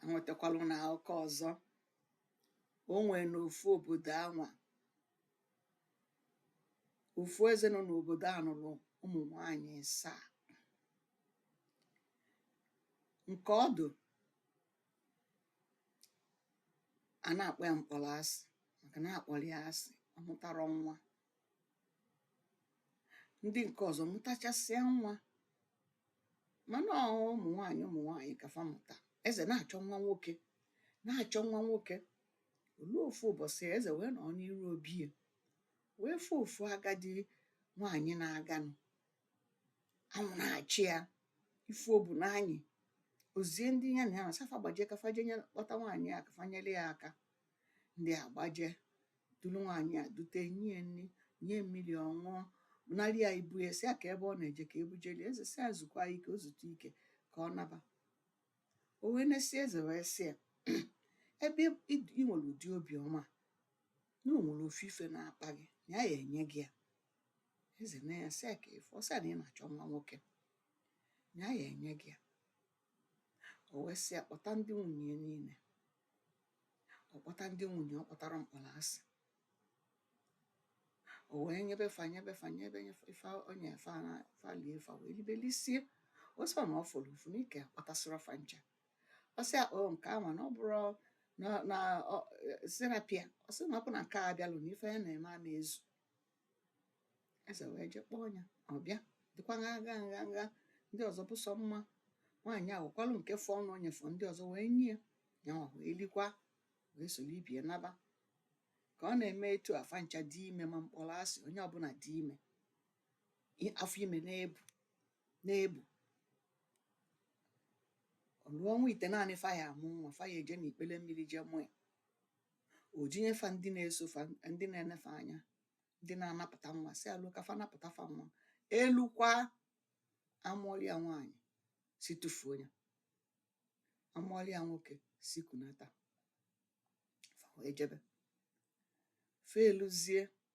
anwetakwalụ na akụkọ ọzọ o nwere n'ofu obodo anwa ofu eze nọ n'obodo a nụrụ ụmụ nwanyị asaa nke ọdụ a na-akpọ ya mkpọrọ asị maka na a kpọrọ ya asị ọ mụtarọ nwa ndị nke ọzọ mụtachasịa nwa mana ọ ụmụ nwaanyị ụmụ nwaanyị ka fa mụta eze na-achọ nwa nwoke na-achọ nwa nwoke o luo ofu ụbọchị eze wee nọ n'iru obi ya wee fụ ofu agadi nwaanyị na-aganụ anwụ na-acha ya ife o bu na-anyị o zie ndị ya na ya sị fa gbaje ka fa je nye kpọta nwaanyị a ka fa nyere ya aka ndị a gbaje duru nwaanyị a dute nye nri nye mmiri ọ ṅụọ narị ya ibu ya sị ya kee ebe ọ na-eje ka e bujeli eze sị ya zukwaa ike o zute ike ka ọ naba o wee nesie eze wee sị ya ebe ị ị nwere ụdị obiọma a, na o nwere ofu ife na-akpa gị na ya ya-enye gị ya eze nee ya sị ya kee ife ọ sị ya na ị na-achọ nwa nwoke na ya ya-enye gị ya o wee sị ya kpọta ndị nwunye ya niile ọ kpọta ndị nwunye ọ kpọtarọ mkpọrọ asị o wee nyebe fa nyebe fa nyebe ife o nye fa na fa lie fa wee libe lisie ọ sị na ọ fọrọ ofu na ị kpọtasịrọ fa ncha ọ sị akpa o nke ama na ọ bụrụ na na ọ- eh, sị rapụ ya ọ sị na ọ bụ na nke a abịalụ na ife ya na-eme ama ezu eze wee je kpọọ ya ọ bịa dịkwa nha nha nha nha ndị ọzọ bụ sọ mma nwaanyị a wekwarụ nke fọnụ o nyefọ ndị ọzọ wee nye ya ya ọ wee likwa wee soro ibe ya naba ka ọ na-eme etu a fa ncha dị ime ma mkpọrọ asị onye ọbụla dị ime i- afọ ime na-ebu na-ebu o luo ọnwa itenaanị fa ya-amụ nwa fa ya-eje n'ikpele mmiri jee mụ ya ò ji nye fa ndị na-eso fa ndị na-ene fa anya ndị na-anapụta nwa sị alụ ka fa napụta fa nwa e lukwa a mụọlụ ya nwaanyị sị tụfuo ya a mụọlụ ya nwoke sị kunata fa wee jebe fa eluzie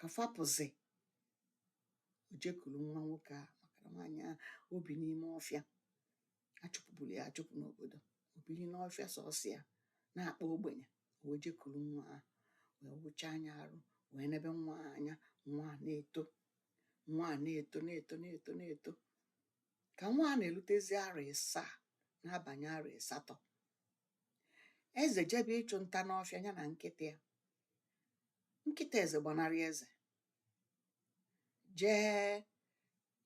ka fa pụzị o jekuru nwa nwoke a maka na nwaanyị a o bi n'ime ọfịa a chụpụburu ya achụpụ n'obodo o bili n'ọfịa sọsọ ya na-akpa ogbenye o wee jekuru nwa a wee wụchaa ya arụ wee nebe nwa a anya nwa a na-eto nwa a na-eto na-eto na-eto na-eto ka nwa a na-erutezi arọ ịsaa na-abanye arọ ịsatọ eze jebe ịchụ nta n'ọfịa ya na nkịta ya nkịta eze gbanarị eze jee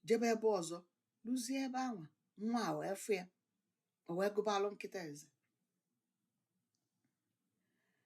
jebe ebe ọzọ luzie ebe anwa nwa a wee fụ ya o wee gụbalụ nkịta eze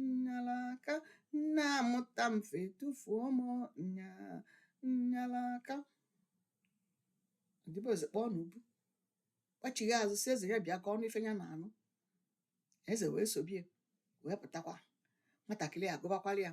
nnalaka nna amụta m fa etufuo m nya nnalaka odibo eze kpọọ n'ubu kpachigha azụ sị eze ya bịa ka ọ nụ ife ya na-anụ eze wee sobe ya wee pụtakwa nwatakịrị a gụbakwara ya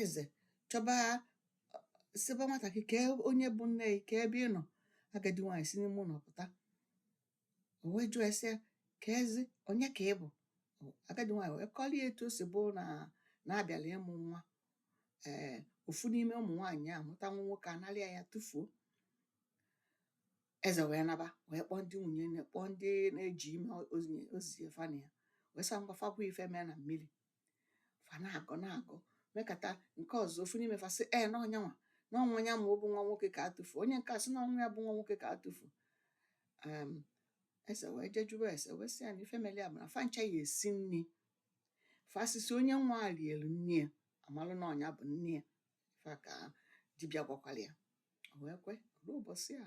eze chọba sịba nwatakịrị kee onye bụ nne gị kee ebe ị nọ agadi nwaanyị si n'ime ụlọ pụta o wee jụọ ese keezi onye ka ị bụ agadi nwaanyị wee kọrọ ya etu o si bụ na na-abịala ịmụ nwa ee ofu n'ime ụmụ nwaanyị a mụta nwa nwoke a nalịa ya tụfuo eze wee naba wee kpọọ ndị nwunye ya kpọọ ndị na-eji ime ozie fa na ya wee sị ngwa fa kwuo ife mee na mmiri fa na-agọ na-agọ mekata nke ọzọ ofu n'ime fa sị ee na ọ nyanwa na ọ nwa ya ma ọ bụ nwa nwoke ka a tụfu onye nke a sị na ọ nwa ya bụ nwa nwoke ka a tụfu um, eze wee jee jụba ese wee sị ya na ife meli a bụ na fa ncha ya-esi nni fa sisịa onye nwa a rielu nni ya a malụ na ọ nya bụ nne ya ife a ka dibịa gwakwara ya o wee kwe luo ụbọsị a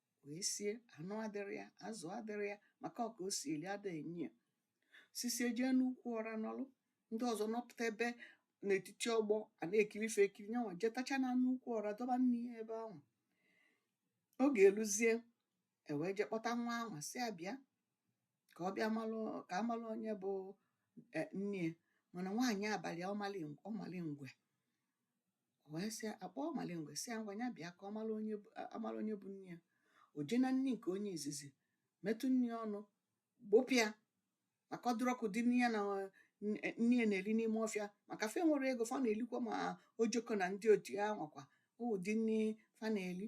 wee sie anụ adịrọ ya azụ adịrọ ya maka ọ ka o si eli ada enye ya sisie jee n'ukwu ọra nọlụ ndị ọzọ nọpụta ebe n'etiti ọgbọ a na-ekiri ife ekiri nyanwa jetacha na n'ukwu ọra dọba nni ya ebe ahụ oge eluzie e wee je kpọta nwa ahụ sị ya bịa ka ọ bịa malụ ka a malụ onye bụ e, nne ya mana nwaanyị a balị ya ọmalingwe o wee sị a kpọọ ọmalingwe sị ya ngwa ya bịa ka ọ mara onye bụ- a- a mara onye bụ nne ya o jee na nni nke onye izizi metụ nni ọnụ gbụpụ ya maka ọ dịrọ ka ụdị nni ya na eh, nne nne ya na-eri n'ime ọfịa maka fa enwerọ ego fa na-elikwa ma ojoko na ndị otu ya nwakwa ụdị nni fa na-eli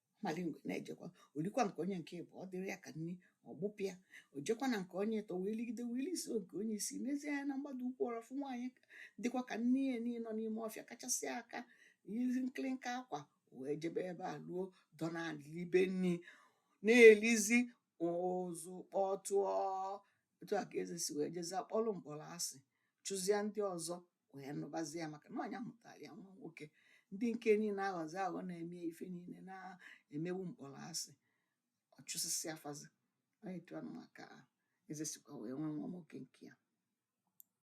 malingwe na-ejekwa o likwa nke onye nke ịbụa ọ dịrọ ya ka nni ọ gbụpụ ya o jekwa na nke onye ịtọ wee ligide wee liso nke onye isi nezie anya na mgbada ukwu ọra fụ nwaanyị dịkwa ka nne ya na ya nọ n'ime ọfịa kachasị aka yizi nkịrịnka akwa wee jebe ebe a luo dọ na libe nni na-elizi ụzụ kpọtụọ etu a ka eze si wee jezie kpọlụ mkpọrọ asị chụzie ndị ọzọ wee nụbazi ya maka na ọ nya mụtara ya nwa nwoke ndị nke niile aghọzi aghọ na-eme ife niile a na-emebu mkpọrọ asị ọ chụsịsịa fa zi etu anwa ka eze sikwa wee nwee nwa nwoke nke ya